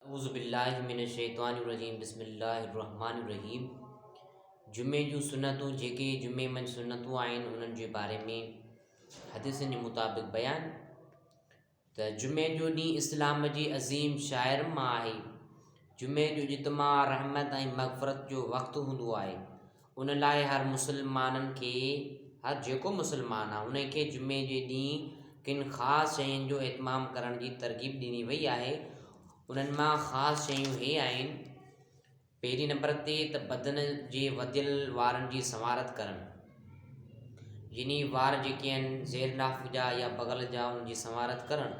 اعوذ بالله من الشيطان الرجيم بسم الله الرحمن الرحيم جمعي جون سنتون جيڪي جمعي منجھ سنتون آهن انهن جي باري ۾ حديثن جي مطابق بيان ته جمعي جو ڏينهن اسلام جي عظيم شاعر مان آهي جمعي جو اجتماع رحمت ۽ مغفرت جو وقت هوندو آهي ان لاء هر مسلمانن کي هر جيڪو مسلمان آهي انهي کي جمعي جي ڏينهن ڪن خاص شين جو اهتمام ڪرڻ جي ترغيب ڏني وئي آهي انهن مان خاص شيون هي آهن پهرين نمبر تي ته بدن جي وڌيل وارن جي سنوارت ڪرڻ يعني وار جيڪي آهن زير ناف جا يا بغل جا ان جي سنوارت ڪرڻ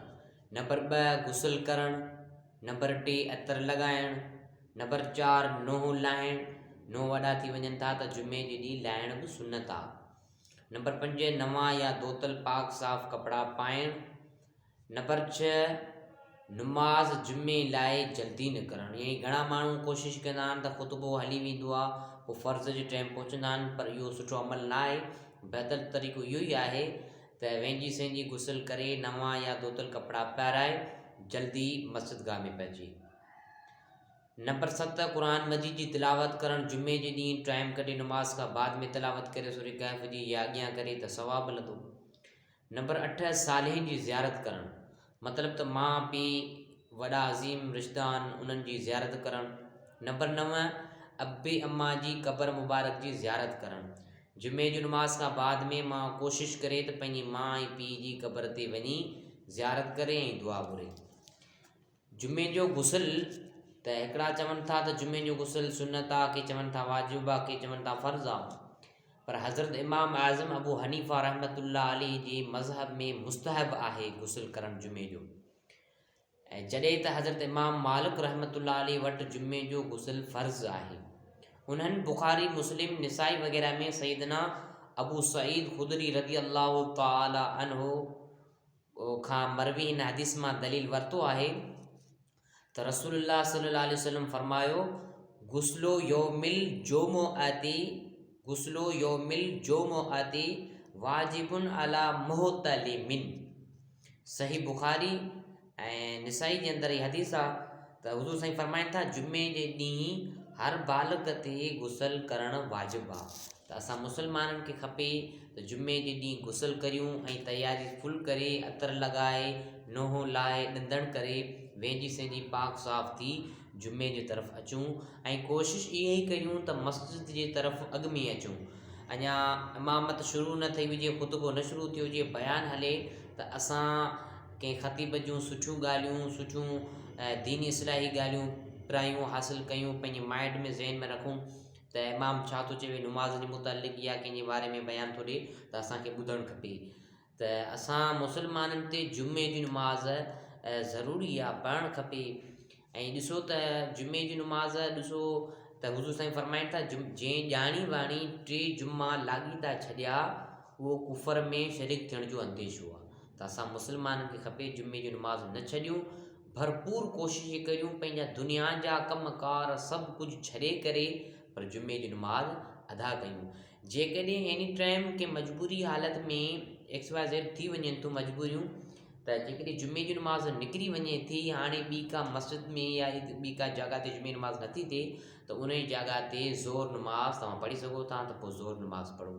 نمبر ٻه غسل ڪرڻ نمبر ٽي عطر لڳائڻ نمبر چار، نونهن لاهڻ، نونهن وڏا ٿي وڃن ٿا ته جمعي جي ڏينهن لاهڻ به سنت آ. نمبر پنج، نوان يا ڌوتل پاڪ صاف ڪپڙا پائڻ. نمبر ڇهه، نماز جمعي لاء جلدي نڪرڻ يعني گهڻا ماڻهو ڪوشش ڪندا آهن ته خطبو هلي ويندو آ پوء فرض جي ٽيم پهچندا آهن پر اهو سٺو عمل نه آهي بهتر طريقو اهو ئي آهي ته وينجي سهنجي غسل ڪري نوان يا ڌوتل ڪپڙا پهرائي جلدي مسجد گاهه ۾ پهچي نمبر ست، قرآن مجيد جي تلاوت ڪرڻ، جمعي جي ڏينهن ٽائيم ڪڍي نماز کان بعد ۾ تلاوت ڪري سورة ڪهف جي يا اڳيان ڪري ته ثواب ملندو. نمبر اٺ، صالحين جي زيارت ڪرڻ، مطلب ته ماء پيء، وڏا عظيم رشتدان انهن جي زيارت ڪرڻ. نمبر نو، ابي اما جي قبر مبارڪ جي زيارت ڪرڻ، جمعي جي نماز کان بعد ۾ ماء ڪوشش ڪري ته پنهنجي ماء ۽ پيء جي قبر تي وڃي زيارت ڪري ۽ دعا گهري. جمعي جو غسل ته هڪڙا چون ٿا ته جمعي جو غسل سنت آ ڪي چون ٿا واجب آ ڪي چون ٿا فرض آ پر حضرت امام اعظم ابو حنيفه رحمت الله عليه جي مذهب ۾ مستحب آهي غسل ڪرڻ جمعي جو ۽ جڏهن ته حضرت امام مالڪ رحمت الله عليه وٽ جمعي جو غسل فرض آهي انهن بخاري مسلم نسائي وغيره ۾ سيدنا ابو سعيد خدري رضي الله تعالي عنه کان مروي هن حديث مان دليل ورتو آهي ته رسول الله صلي الله عليه وسلم فرمايو غسل يوم الجمعه تي غسل يوم الجمعه تي واجب على محتلمن صحيح بخاري ۽ نسائي جي اندر هي حديث آ ته حضور سائين فرمائن ٿا جمعي جي ڏينهن هر بالغ تي غسل ڪرڻ واجب آ ته اسان مسلمانن کي کپي ته جمعي جي ڏينهن غسل ڪريون ۽ تياري فل ڪري عطر لڳائي نونهون لاهي ڏندڻ ڪري وينجهي سينجهي پاڪ صاف ٿي جمعي جي طرف اچون ۽ ڪوشش اها ئي ڪريون ته مسجد جي طرف اڳ ۾ اچون اڃا امامت شروع نه ٿي هجي خطبو نه شروع ٿيو هجي بيان هلي ته اسان ڪنهن خطيب جون سٺيون ڳالهيون سٺيون ديني اصلاحي ڳالهيون پرايون حاصل ڪيون پنهنجي مائنڊ ۾ ذهن ۾ رکون ته امام ڇا ٿو چوي نماز جي متعلق يا ڪنهن جي باري ۾ بيان ٿو ڏي ته اسانکي ٻڌڻ کپي ته اسان مسلمانن تي جمعي جي نماز ضروري آ پڙهڻ کپي ۽ ڏسو ته جمعي جي نماز ڏسو ته حضور سائين فرمائن ٿا جم جنهن ڄاڻي واڻي ٽي جمعا لاڳيتا ڇڏيا اهو ڪفر ۾ شريڪ ٿيڻ جو انديشو آ ته اسان مسلمانن کي کپي جمعي جي نماز نه ڇڏيون ڀرپور ڪوششون ڪيون پنهنجا دنيا جا ڪم ڪار سڀ ڪجهه ڇڏي ڪري پر جمعي جي نماز ادا ڪيون جيڪڏهن ايني ٽائيم ڪنهن مجبوري حالت ۾ ايڪس واء زيڊ ٿي وڃن ٿيون مجبوريون ته جيڪڏهن جمعي جي نماز نڪري وڃي ٿي هاڻي ٻي ڪا مسجد ۾ يا ٻي ڪا جاڳا تي جمعي نماز نٿي ٿئي ته ان جي جاڳا تي زور نماز تون پڙهي سگهو ٿا ته پوء زور نماز پڙهو